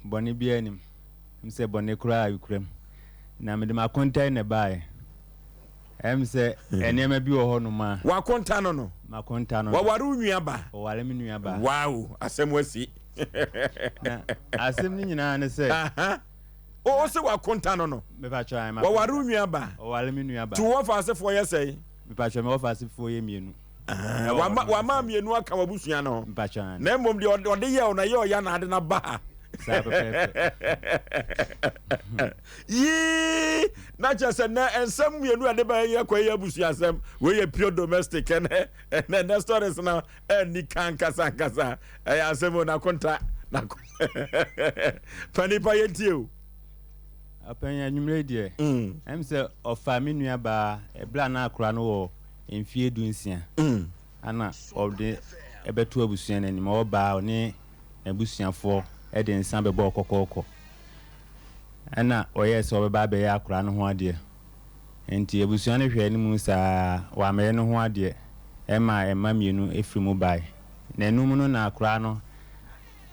Bɔne biara nnim. Ɛm sɛ bɔne koraa rekura mu. Na mede m'akonta yi na ɛbaeɛ. Ɛm sɛ nneɛma bi wɔ hɔ nom a. W'akonta no no. M'akonta no no. Waware wo nua ba. Waware me nua ba. Wow! Asɛm asi. Na asɛm no nyinaa ne sɛ. Ahaa. O, wo se w'akonta no no. Me patrɔ, ae, m'akonta. Waware wo nua ba. Waware me nua ba. To wo wɔfa asefoɔ yɛ sɛn? Me patrɔ, me wɔfa asefoɔ yɛ mmienu. Wama wama mmienu aka w'abusua no ho. Na mmom deɛ ɔde yɛ wo na yɛ ɔya na ade na ba ha. Yii na kyerɛ sɛ nɛ nsɛm mmienu a ɛde ba yɛ kɔ yɛ abusua nsɛm wei yɛ pure domestic ɛnɛ ɛnɛ nɛ stories no ɛni kan kasa nkasa ɛyɛ asɛm o nakonta nako pa nipa yɛ tie o. Apɛn anwummerɛ deɛ ɛm sɛ ɔfa me nua baa ɛbla na akora no wɔ mfeɛ du nsia na ɔde bɛto abusua no anim. Ɔbaa a, ɔne n'abusuafoɔ de nsa bɛbɔɔ kɔkɔɔkɔ. Ɛnna ɔyɛɛ sɛ ɔbɛba abɛyɛ akwadaa no ho adeɛ. Enti abusua no hwɛɛ no mu saa, wammɛyɛ ne ho adeɛ. Ɛmaa mma mmienu firii mu baeɛ. Nnanum no na akwadaa no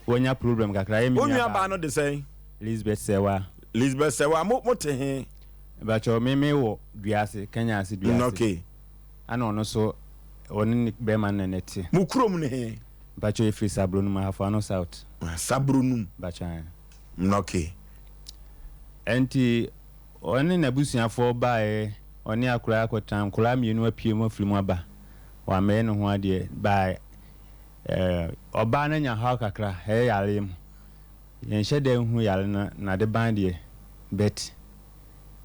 wanya problem kakra. Wo nuabaa no de sɛn? Lisbeth Serwaa. Lisbeth Serwaa, mo, mote he? Mepakyɛw me me wɔ dua ase kanya ase dua ase. Ok. Ana ɔno nso ɔne ne bɛɛma no na na ɛte. Mo kurom ne he? Mepakyɛw yɛfiri Sabronum Ahafo-Ano South. Sabronum. Mepakyɛw ae. Mna ok. Ɛnti ɔne n'abusuafoɔ baaɛ ɔne akoraa kɔtena nkoraa mmienu apue mu afiri mu aba wammɛyɛ ne ho adeɛ baaɛ ɔbaa no anya haw kakra hɛɛ yareɛ mu Yɛnhyɛ da nhu yare no nade ban deɛ but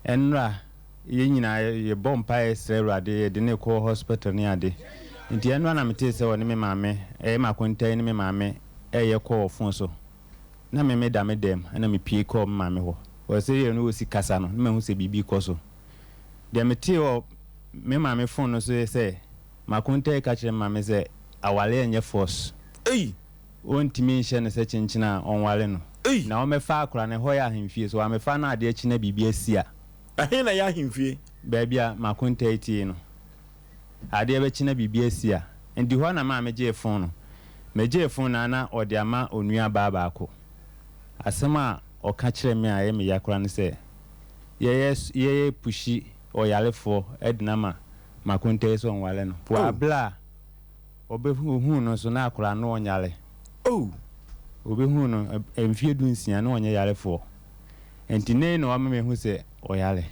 ɛnra yɛn nyinaa yɛbɔ mpaeɛ srɛ awurade yɛde no kɔ hospital ne ade nti ɛnra na metee sɛ ɔne me maame ɛyɛ me akontan ne me maame ɛyɛ kɔɔ phone so na me meda me dɛm ɛna me pie kɔɔ me maame hɔ ɔsɛ yɛ no ɔsi kasa no na mahu sɛ biribi kɔ so deɛ metee wɔ me maame phone no so yɛ sɛ makontan ka kyerɛ me maame sɛ awareɛ nyɛ force. Ei! Ɔntumi nhyɛ no sɛ kyenkyen a ɔnware no. Ei! Na wɔmɛfa akora no, ɛhɔ yɛ ahemfie, so wɔamɛfa no adeɛ kye na biribi asi a. Ɛhe na ɛyɛ ahemfie? Baabi a m'akonta yi te yi no, adeɛ bɛkye na biribi asi a, ɛdi hɔ na maame gyee fon no. Megyee fon no ara na ɔde ama onua baa baako. Asɛm a ɔka kyerɛɛ me a ɛyɛ me ya koraa ne sɛ, Yɛyɛ so, yɛyɛ pushi ɔyarefoɔ de no ama m'akonta yi sɛ ɔnware no. Wɔ Oh! aberɛ a. Ɔbɛhunu ohuu no nso na akwadaa no ɔnyare oh Ɔbɛhunu no mfeɛ du nsia na ɔnyɛ yarefoɔ Nti nei na wama mahu sɛ ɔyare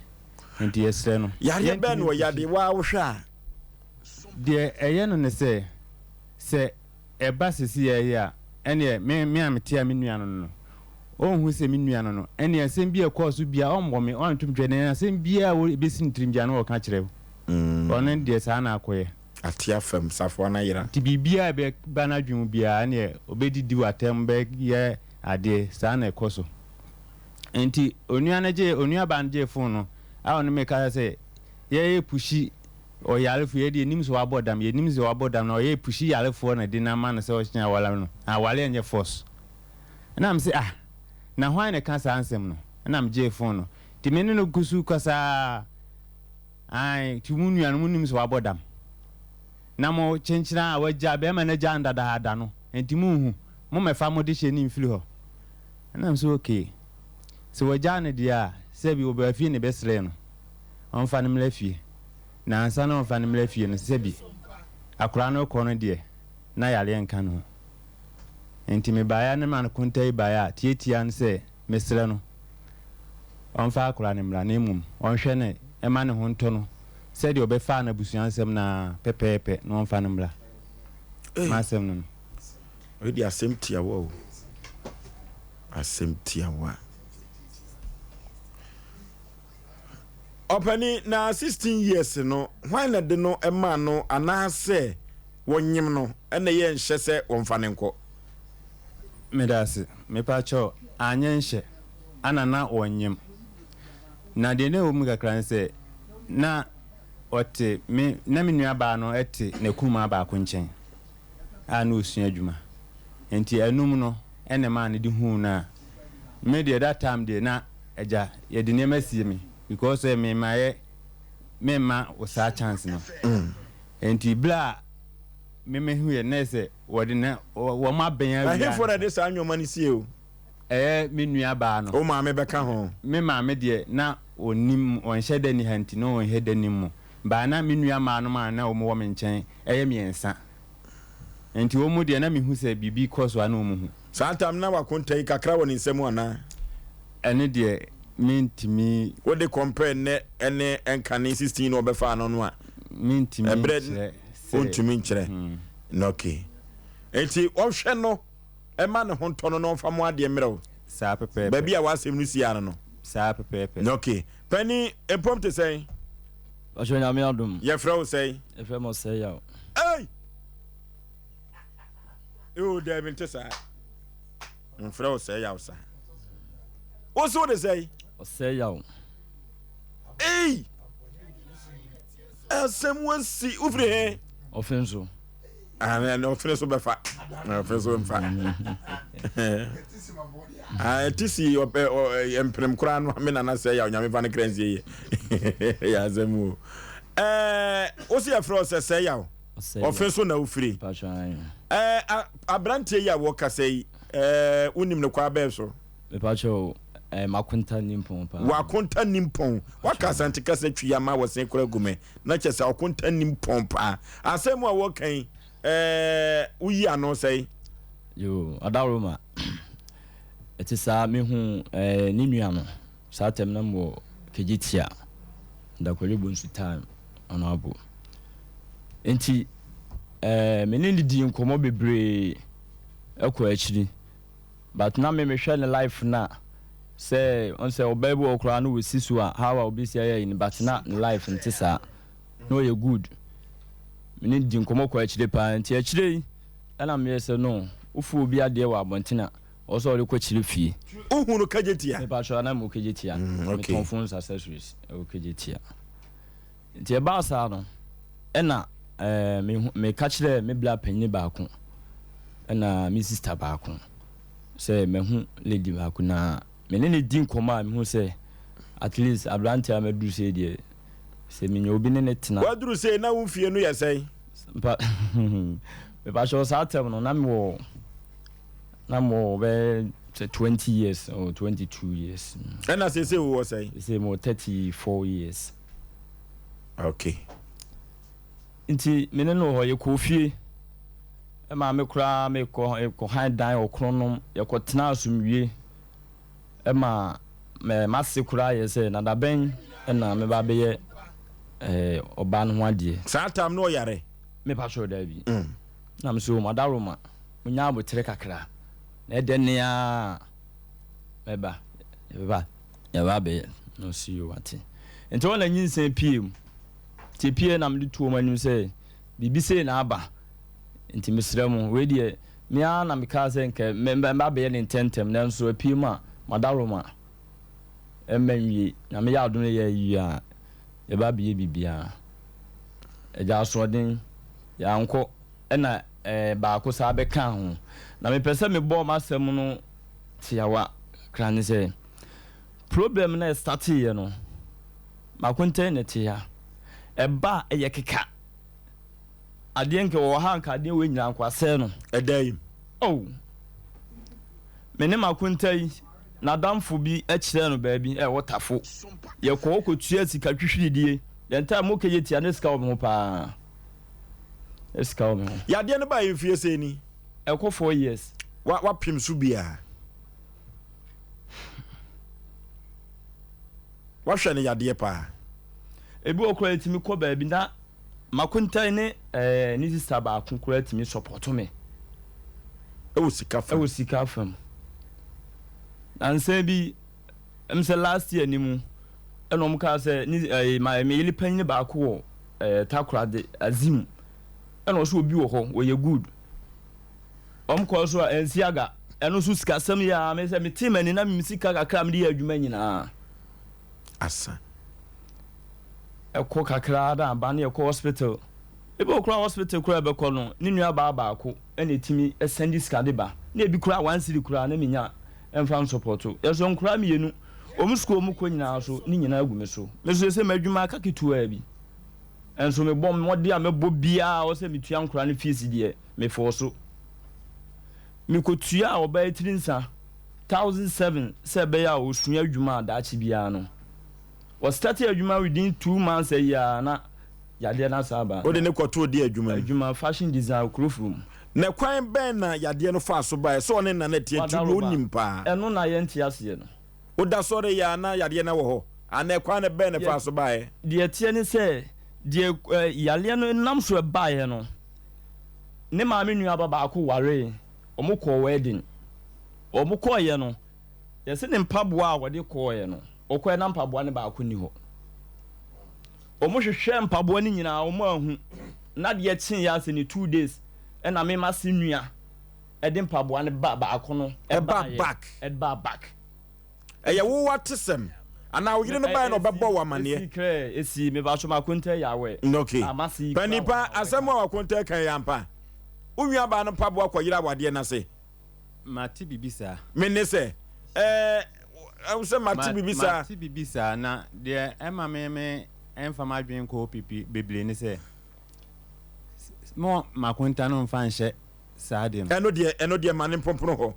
Nti yɛsrɛ no Yareɛ bɛn na ɔya de waa wo hwɛ a? Deɛ ɛyɛ no ne sɛ sɛ ɛba seseyɛ yi a ɛneɛ me me a metea me nua no no no ɔnhu sɛ me nua no no ɛneɛ asɛm bi a ɛkɔɔ so biara ɔmmɔ me ɔnto me twɛ na asɛm biara a ɛbɛsi ne tirim biara na ɔka kyerɛ ɔno deɛ saa na akɔyɛ. Atea fam, safoa no ayera. Nti biribiara a ɛbɛba n'adwene mu biara, ɛnneɛ ɔbɛdidi wo atɛm bɛyɛ adeɛ, saa na ɛkɔ so. Nti onua no gyee, onuabaa no gyee fon no a ɔne me kasa sɛ, yɛyɛ pushi ɔyarefo, yɛn deɛ yɛnim sɛ wabɔ dam, yɛnim sɛ wabɔ dam, na ɔyɛ pushi yarefoɔ na ɛde no ama no sɛ ɔkyena aware no, na awareɛ nyɛ force. Ɛnna mese, ah, na hwan na ɛka saa nsɛm no? Ɛnna megyee fon no. Nti me ne no gu so kasaa. Ae, nti mo nua no, monim sɛ wabɔ dam, na mo kyenkyenaa a wagyaa bɛɛma no agyaa no dadaada no, nti monhu? Mommɛfa mo dehyɛ no mfiri hɔ. Ɛnam sɛ okay, sɛ wagyaa no deɛ a, sɛ bi wɔbaa fie ne bɛsrɛɛ no, ɔmfa no mmra fie. Na ansa na ɔmfa no mmra fie no, sɛ bi akwadaa no rekɔ no deɛ, na yareɛ nka ne ho. Nti mebaeɛ a na me ma no konta yi baeɛ a, tiatiaa no sɛ, Mesrɛ no, ɔmfa akwadaa no mmra na mmom ɔnhwɛ no mma ne ho ntɔ no sɛdeɛ ɔbɛfaa no abusua nsɛm no ara pɛpɛɛpɛ na ɔmfa no mmra. Ei! M'asɛm no no. Wei deɛ asɛm tiawa o. Asɛm tiawa. Ɔpani na 16 years no hwan na de no maa no anaasɛ wɔnyem no ɛna yɛ nhyɛ sɛ wɔmfa no nkɔ. Meda ase. Mepakyɛw, anyɛ nhyɛ ana na wɔnyem? Na deɛ na ɛwɔ mu kakra ne sɛ, na ɔte me, na me nua baa no te n'akunumaa baako nkyɛn a na ɔresua adwuma. Nti ɛnom no na ɛmaa no de huu no a me deɛ that time deɛ na agya yɛde nneɛma sie me because sɛ me mayɛ me mma wo saa chance no. Nti berɛ a me mehuiɛ no na ɛyɛ sɛ Wɔde na wɔn abɛn awia. Ɛhefo na ɛde saa nneɛma no sie o? Ɛyɛ me nuabaa no. Wo maame bɛka ho. Me maame deɛ na ɔnnim, ɔnhyɛ da nni ha nti na ɔnhyɛ da nnim mo. But na me nuammaanom a na wɔwɔ me nkyɛn yɛ mmiɛnsa. Nti wɔn deɛ na mehu sɛ biribi kɔ so a na wɔhu. Saa tam no na wakonta yi kakra wɔ ne nsa mu anaa? Ɛno deɛ mentumi. Wode compare nnɛ ne nkane 16 no ɔbɛfaa no no a? Mentumi nkyerɛ sɛ. Ɛberɛ, wontumi nkyerɛ. No ke. Enti ɔnhwɛ no mma ne ho ntɔ no na ɔmfa mo adeɛ mmrɛ wo. Saa pɛpɛɛpɛ. Baabi a w'asɛm no si ara no. Saa pɛpɛɛpɛ. No ke. Panin, mpom te sɛn? Mpakyɛ Onyame adom. Yɛfrɛ wo sɛn? Yɛfrɛ me Ɔsɛeyaw. Ei! Ewoo daabi nte saa. Wɔmfrɛ wo Sɛeyaw saa. Wo se wode sɛn? Ɔsɛeyaw. Ei! asɛm wɔsi wofiri he ɔfene so ɛne ɔfene so bɛfa ɔfene so mfa ɛti si mpenem koraa no me nana sɛ yɛ onyame fa no kra nsie yɛ yɛ asɛm o wo si yɛfrɛ sɛ sɛ yaw ɔfene so na wofiri aberanteɛ yi a wɔkasa yi wonim no kɔ abɛɛ so Mepa kyɛw eh, makonta nimpɔn paa. Wakonta nimpɔn. Waka asante kasa twi ama wɔsen kora gu me. Na kyɛ sɛ ɔkonta nimpɔn paa. Asɛm a wɔka yi, eh, woyi ano sɛe. Yo, Adaroma. Ɛte saa, mehu eh, ne nua no. Saa tɛm na mwɔ kegye tia. Dakwari bonsu time, ɔno abo. Enti, eh, me ne no dii nkɔmmɔ bebree ɛkɔ akyiri. But na me me hwɛ ne life na sɛ wɔn sɛ ɔbaa bi wɔ hɔ koraa na ɔsi so a how a ɔbɛsi ayɛ ayi no but na ne life nte saa na ɔyɛ good me ne no di nkɔmmɔ kɔ akyire paa nti akyire yi ɛna meyɛ sɛ no wofu obi adeɛ wɔ abɔnten a ɔwɔ sɛ ɔde kɔ kyerɛ fie. Wohu no Kagyetia? Mepa kyɛw na mewɔ Kagyetia. Mm, okay. Metɔn phones accessories ɛwɔ Kagyetia. Nti ɛbaa saa no, ɛna meka kyerɛɛ me bra panyini baako ɛna me sista baako sɛ mahu lady baako na me ne ne di nkɔmmɔ a mehu sɛ at least aberanteɛ a maduru sei deɛ sɛ menya obi ne ne tena. Waduru sei na wo mfie no yɛ sɛn? Mpa mepakyɛw saa tɛm no na mewɔ na mewɔ bɛyɛ sɛ twenty years or twenty two years. Ɛna seesei wowɔ sɛn? Seesei mewɔ thirty four years. Okay. Nti me ne no wɔ hɔ, yɛkɔɔ fie. Me maame koraa me kɔ kɔhan dan wɔ Kronom, yɛkɔtenaa asomdwie. Ɛma me m'ase koraa yɛɛ sɛ na dabɛn na mɛba abɛyɛ eh, ɔbaa no ho adeɛ. Saa time no ɔyare? Me pa kyɛw daabi. Mm. Na me so madaroma, menya abotere kakra. Na ɛdɛ ne aa mɛba, yɛbɛba. Yɛn ba bɛyɛ na ɔsi o wate. Nti hɔ na nyinsɛn pue mu. Nti epueɛ na mede too mo anim sɛ biribi sei na aba. Nti mesrɛ mo, wei deɛ me ara na mekaa sɛ nka mɛba abɛyɛ no ntɛmntɛm nanso apue mu a m'adaworoma mma nwie. Nyame yɛ adom na yɛ awie a yɛba abɛyɛ biribiara. Agya Asoɔden, yɛankɔ ɛna ɛɛ baako saa bɛkaa ho. Na mepɛ sɛ mebɔ m'asɛm no tiawa kakra ne sɛ. Problem no a ɛstarteeɛ no, mako ntɛn na ɛte ha. Ɛba a, ɛyɛ keka. Adeɛ nka ɛwɔ ha nka adeɛ wei nyinaa nka wɔasɛe no. Ɛda yi. Oh! Me ne mako ntɛn, n'adamfo bi kyerɛɛ no baabi ɛwɔ Tafo. Yɛkɔ hɔ kɔtua sika twihwiridie. Yɛn time okay yɛ tia na sika wɔ me ho paa. Na sika wɔ me ho. Yadeɛ no baa yɛn fie sɛ ni. Ɛkɔ four years. Wa, wapem so biara. Wɔhwɛ no yadeɛ paa. Ebi wɔ koraa yɛtumi kɔ baabi na m'akontan ne ɛɛ ne sista baako koraa tumi sɔpɔto me. Ɛwɔ sika fam. Ɛwɔ sika fam. Na nsɛn bi ɛm sɛ last year ni mu ɛna wɔn kaa sɛ ne ɛɛ ma ɛmɛ yɛli panyin baako wɔ ɛɛ takoradi azim ɛna ɔsɛ obi wɔ hɔ wɔyɛ good. Wɔn kɔɔ so a ansi aga. Ɛno nso sikasɛm yɛ ara me sɛ metee m'ani na me sika kakra a mede yɛ adwuma nyinaa asa. Ɛkɔ kakra ara na aba na yɛkɔ hospital. Ebi wɔ hɔ koraa a hospital koraa a yɛbɛkɔ no, ne nuabaa baako na ɛtumi sɛnde sika de ba. Na ebi koraa one cedi koraa na mennya mfa nsɔpɔto. Yɛsɔ nkwadaa mmienu, wɔn sukuu a wɔkɔ nyinaa nso ne nyinaa gu me so. Me nso seesei m'adwuma aka ketewaa bi. Nso mebɔ mmɔden a mɛbɔ biara a ɛwɔ sɛ metua nkwadaa no fees deɛ, Mefɔɔ so. Mikotuaa ɔbaa tiri nsa thousand seven sɛ ɛbɛyɛ a ɔsua adwuma a daakye biara no ɔstartee adwuma within two months a year a na yadeɛ no asan aba. Wode no kɔtoo deɛ adwuma mu? Adwuma, fashion design wɔ Kurofuro mu. Na kwan bɛn na yadeɛ no faa so baeɛ? Sɛ ɔne Nana Tiatiri deɛ ɔnim paa. Wadaworoba. Ɛno na yɛnte aseɛ no. Woda so reyɛ a na yadeɛ no wɔ hɔ anaa ɛkwan no bɛn na ɛfaa so baeɛ? Deɛ ɛteɛ ne sɛ, deɛ yadeɛ no nam so baeɛ no, ne maame nua ba baako waree, wɔkɔɔ wɛɛden. Wɔkɔeɛ no, yɛse ne mpaboa a ɔde kɔeɛ no, ɔkɔeɛ na mpaboa no baako nni hɔ. Wɔhwehwɛɛ mpaboa no nyinaa wɔanhu, na adeɛ kyeeɛ ara sɛ ne two days na me mase nua, Ɛde mpaboa no ba baako no baeɛ. Ɛyɛ wo atesɛm anaa wo yere no baeɛ na ɔbɛbɔɔ wo amaneɛ? Ɛsii krɛ, ɛsii. Mepaatwo m'akontɛɛ yɛ awɛ. Ok. Panin pa, asɛm a w'akontɛɛ kae yɛ ampa? Wo nuabaa no mpaboa kɔyera awadeɛ no ase? Mate biribi saa. Me ne sɛ, Ɛɛ, wo sɛ mate biribi saa? Mate biribi saa, na deɛ ɛma me mfa m'adwene nkɔ hɔ bebree ne sɛ, mma m'akonta no mfa nhyɛ saa deɛ no. Ɛno deɛ, ɛno deɛ ma no mponpono hɔ.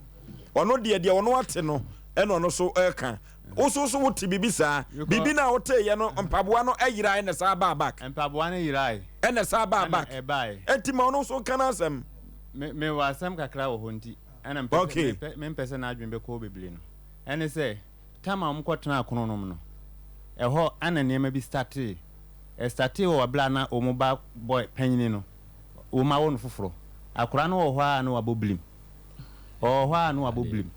Ɔno deɛ, deɛ ɔno ate no ɛna ɔno so ɛka. Wo so so wote biribi saa? Biribi no a woteeɛ no, mpaboa no ɛyerae ɛna saa baa back. Mpaboa no yerae. Ɛna saa baa back. Ɛna ɛbaae. Ɛnti ma ɔno so nka n'asɛm. Me, me wɔ asɛm kakra wɔ hɔ nti, ɛna mpɛ sɛ, mempɛ, mempɛ sɛ n'adwene bɛkɔ hɔ bebree no, ɛne sɛ, tam a wɔkɔtenaa Kronom no, ɛhɔ ɛna nneɛma bi startee. Ɛstartee wɔ berɛ a na wɔn ba boy panyini no, wɔawo no foforɔ. Akwadaa no wɔ hɔ ara na wabɔ birim. Ɔwɔ hɔ ara na wabɔ birim.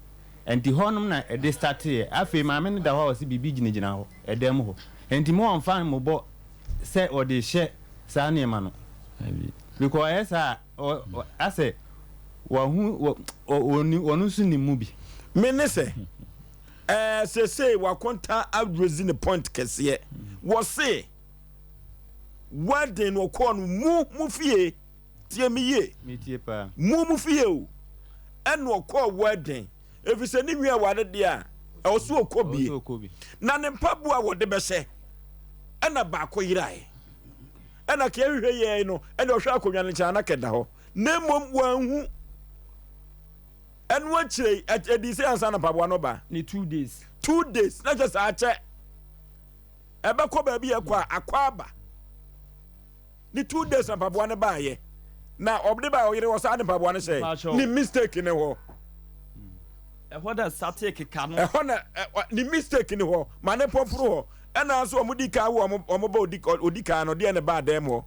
Nti hɔnom na ɛde starteeɛ. Afei maame no da hɔ a ɔse biribi gyinagyina hɔ, ɛdan mu hɔ. Nti mo wɔmfa mmobɔ sɛ ɔde rehyɛ saa nneɛma no. Because ɔyɛ saa a, asɛ wahu, ɔno nso nim mu bi. Me ne sɛ, ɛɛ seesei wakonta adresi ne point kɛseɛ. Wɔse. W'aden no ɔkɔɔ no mu mo fie, tie me yie, mu mo fie o, ɛna ɔkɔɔ w'aden, ɛfiri sɛ ne nua ware deɛ a ɛwɔ so ɔkɔ bie, na ne mpaboa a wɔde bɛhyɛ ɛna baako yerae, ɛna kɛɛ hwehwɛ yɛe no, ɛna ɔhwɛ akonnwa no nkyɛn ana kɛda hɔ, na mmom wɔanhu ɛno akyire ɛdi sɛ ansa na mpaboa no ba. Ne two days. Two days na kyɛ saa kyɛ. ɛbɛkɔ baabi yɛ kɔ a akɔ aba ne two days na mpaboa no baayɛ na ɔde baa ɔyere hɔ saa de mpaboa no hyɛe ne mistake ne hɔ ɛhɔ na sate keka no ɛhɔ na ne mistake ne hɔ ma ne pɔporo hɔ ɛna nso wɔn di kan wo wɔn ba odi kan no deɛ ne ba adan mu hɔ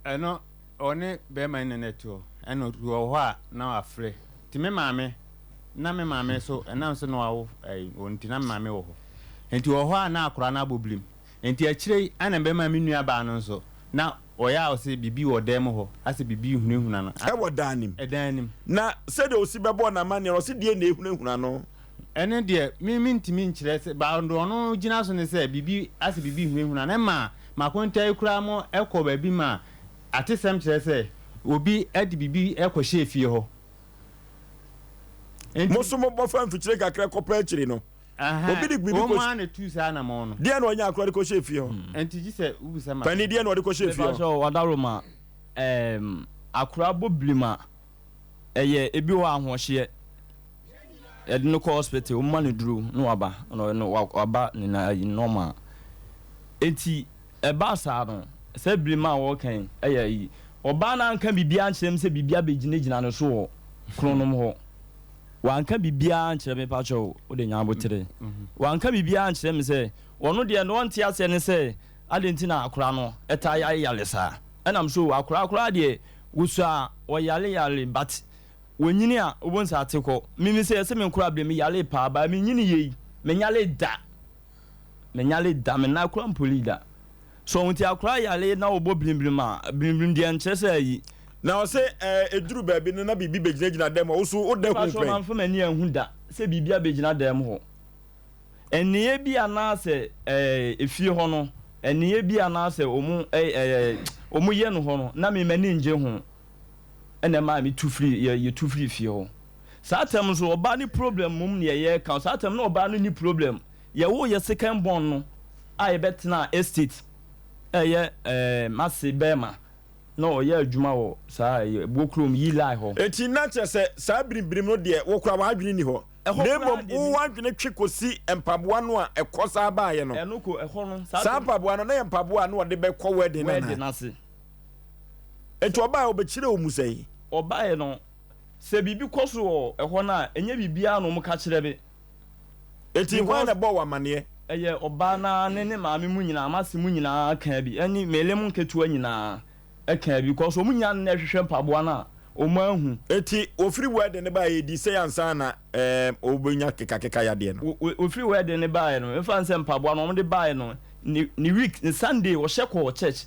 ɛno Ɔne bɛɛma nna na ɛtoɔ ɛna obi wɔ hɔ a na wafrɛ nti me maame na me maame nso ɛnam sɛ na wawo ɛyi wɔn nti na me maame wɔ hɔ nti wɔ hɔ a na akora no abɔ birim nti akyire yi ɛna bɛɛma me nua baa no nso na ɔyɛ a ɔsɛ bibi wɔ dan mu hɔ asɛ bibi ehunahuna no ɛwɔ dan no mu ɛdan no mu na sɛdeɛ osi bɛbɔɔ no amaneɛ no ɔsɛ deɛ na ehunahuna no. Ɛno deɛ me me ntumi nkyerɛ sɛ baa deɛ ɔno gyina so ne sɛ bibi asɛ bibi ehunahuna no ɛma makonta yi koraa mo ɛkɔ baabi ma Atesɛm kyerɛ sɛ obi de biribi kɔhyɛɛ fie hɔ. Enti. Mo nso mobɔ fa mfikyire kakra kɔpa akyiri no. Ahaa, Obi de biribi wɔn kɔs. ara na etuu saa anamɔn no. Deɛn na ɔnya akora de kɔhyɛɛ fie hɔ? Enti gye sɛ wobisa me Panin, asɛm. deɛn na ɔde kɔhyɛɛ fie hɔ? Mepakyɛw, ɔdaworo ma ɛɛm akora bɔ blim a. ɛyɛ ebi wɔ hɔ ahoɔhyeɛ yɛde no kɔ hospital wɔn ma no duro na waba na waba ne na ayi normal eti ɛbaa saa no sɛ birim a wɔkan ɛyɛ yi ɔbaa no anka biribiara nkyerɛ m sɛ biribiara bɛgyinagyina no so wɔ kronom hɔ wanka biribiara nkyerɛ me pakyɛ o wode nya abotere wanka biribiara nkyerɛ me sɛ ɔno deɛ na ɔnte aseɛ ne sɛ adɛn nti na akora no ɛtaa yɛ ayɛ yale saa ɛnam so akora akora deɛ Wosu a wɔyare yare but wonyini a wobon saa te kɔ me me sɛ yɛse me nkora bere me yare paa but me nyini yei me nyare da me nyare da me nan kora mpoli da so nti akora yare na wobɔ brim brim a brim brim deɛ nkyerɛ sɛ ayi Na ɔse ɛɛ ɛduru baabi no na biribi bɛgyinagyina dam hɔ, wo so woda hu pɛn? Mpakyɛ mamfa m'ani anhu da sɛ biribi abɛgyina dam hɔ. Nneyɛɛ bi anaasɛ ɛɛ fie hɔ no nneyɛɛ bi anaasɛ ɔmo ɛɛ ɛɛ ɔmo yɛ no hɔ no na me m'ani ngye ho ɛna ɛmaa me tu firi yɛ yɛ tu firi fie hɔ saa tɛm nso ɔbaa ne problem mmom na yɛ yɛ ka saa tɛm na ɔbaa no ni problem yɛ woo yɛ second born no a yɛ bɛ tenaa estate ɛyɛ ɛɛ m'ase bɛɛma na ɔyɛ adwuma wɔ saa ɛyɛ ɛboɔ kurom yi lie hɔ. Enti na kyerɛ sɛ saa biribirim no deɛ wo koraa w'adwene nni hɔ. na mmom wo w'adwene twe kɔsi mpaboa no a ɛkɔ saa baeɛ no. Saa mpaboa no, na yɛ mpaboa a na ɔde bɛkɔ wɛden no ase. Enti ɔbaeɛ ɔbɛkyerɛ wo mu sɛn? Ɔbaeɛ no, sɛ biribi kɔ so wɔ ɛhɔ no a, ɛnyɛ biribiara na wɔka kyerɛ me. Enti hwan na ɛbɔɔ wo amaneɛ? Ɛyɛ ɔbaa no ara ne ne maame mu nyinaa, m'ase mu nyinaa kaa bi, ɛne Melem nketewa nyinaa. ɛkaa bi kɔs ɔmo nyaa no na ɛhwehwɛ mpaboa no a ɔmo anhu. Nti ɔfiri wɛɛden no baeɛ ɛdi sei ansa na ɛɛm ɔbɛnya kekakeka yadeɛ no. Ɔfiri wɛɛden no baeɛ no ɛmfa no sɛ mpaboa no ɔmo de baeɛ no ne ne week ne Sunday ɔhyɛ kɔɔ church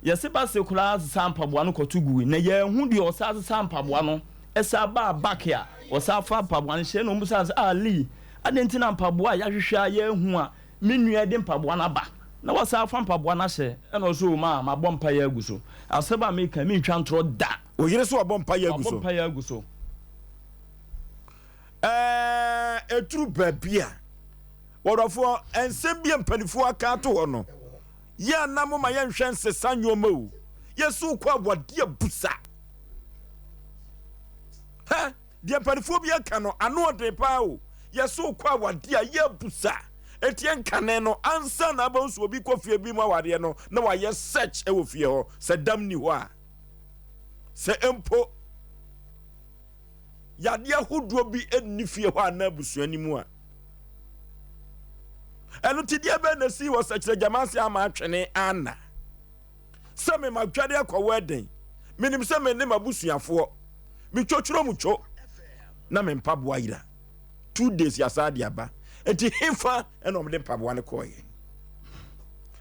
yɛse ba se koraa sesaa mpaboa no kɔto guui na yɛanhu deɛ ɔsaa sesaa mpaboa no ɛsaa baa back a ɔsaa faa mpaboa no hyɛɛ na ɔmo bisaa no sɛ ah Lee adɛn nti na mpaboa a yɛahwehwɛ a yɛanhu a Me nua de mpaboa no aba na wasan afa mpaboa no ahyɛ ɛna ɔsɛ o maa mabɔ mpaeɛ agu so. Asɛm a meka yi mentwa ntorɔ da. Wo yere so wabɔ mpaeɛ agu so? Wabɔ mpaeɛ agu so. Ɛɛ ɛduru baabi a wɔdɔfoɔ nsɛm bi a mpanimfoɔ aka ato hɔ no yɛ a na moma yɛnhwɛ nsesa nneɛma o. Yɛsi wo kɔ awadeɛ abusa. Hɛ! Deɛ mpaninfoɔ bi aka no, ano ɔden paa o. Yɛse wokɔ awadeɛ a, yɛ abusa ɛteɛ nkane no ansa na abɛhu sɛ obi kɔ fie bi mu awadeɛ no na wayɛ search wɔ fie hɔ. Sɛ dam ni hɔ a, sɛ mpo yadeɛ ahodoɔ bi nni fie hɔ anaa abusua no mu a. Ɛno ti deɛ bɛn na ɛsii wɔ sɛkyerɛ gyama ase ama atwene ana? sɛ memadware akɔ wɛɛden menim sɛ me ne m'abusuafoɔ metwotworo mu two na me mpaboa yera two days yɛasaa de aba nti hefa ɛna ɔmde mpaboa no kɔɔyɛ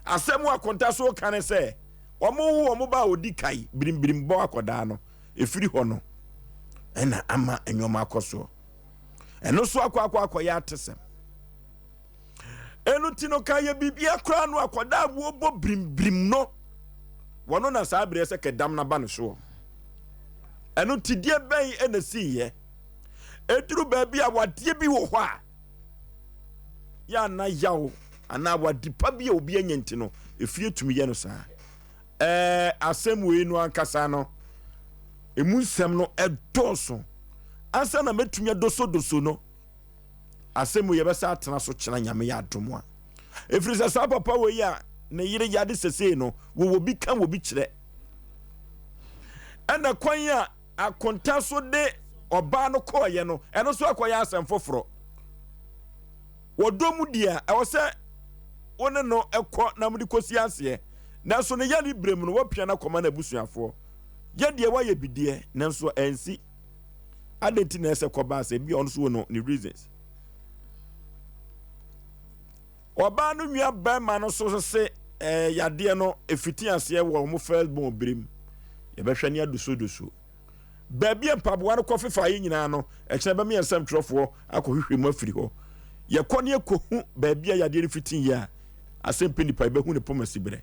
asɛm a kɔnta so ka ne sɛ ɔmowo ɔmo ba a ɔdi kae birimbirim bɔ akɔdaa no ɛfiri hɔ no ɛna ama nneɛma akɔ soɔ ɛno so akɔ akɔ akɔyɛ atesɛm Ɛno nti no ka yɛ biribia koraa no akɔda a wɔbɔ birimbirim no wɔno na saa berɛ sɛ kɛdam no aba no soɔ ɛno nti deɛ bɛn ɛna siiɛ ɛduru baabi a wadeɛ bi wɔ hɔ a yɛ ana yaw anaa wade pa bi a obi anya nti no ɛfie tumi yɛ no saa ɛɛ asɛm wei no ankasa no ɛmu nsɛm no ɛdɔɔso ansa na mɛtumi adosodoso no asɛm mu yɛbɛsa atena so kyena nyame yɛ adom a ɛfiri sɛ saa papa wei a ne yere yade sesei no wɔwɔ bi ka wɔ bi kyerɛ ɛna kwan a akonta so de ɔbaa no kɔɔyɛ no ɛno nso akɔyɛ asɛm foforɔ wɔdɔ mu deɛ a ɛwɔ sɛ wo ne no ɛkɔ na mode kɔsi aseɛ nanso ne yare berɛ mu no wɔpia no akɔma no abusuafoɔ yɛ deɛ woayɛ bideɛ nanso ɛnsi adɛn nti na ɛsɛ kɔbaa sɛ bi ɔno so wɔ no ne reasons ɔbaa no nua bɛrima no so se ɛɛ eh, yadeɛ no efiti aseɛ wɔ wɔn first born birim yɛbɛhwɛ ne adosodoso baabi a mpaboa no kɔ fefa yi nyinaa no ɛkyerɛ bɛmi nsɛm twerɛfoɔ akɔhwehwɛ mu afiri hɔ yɛkɔ ne yɛkɔhu baabi a yadeɛ no fiti yɛ a asɛmpi nipa yɛbɛhu ne poma si berɛ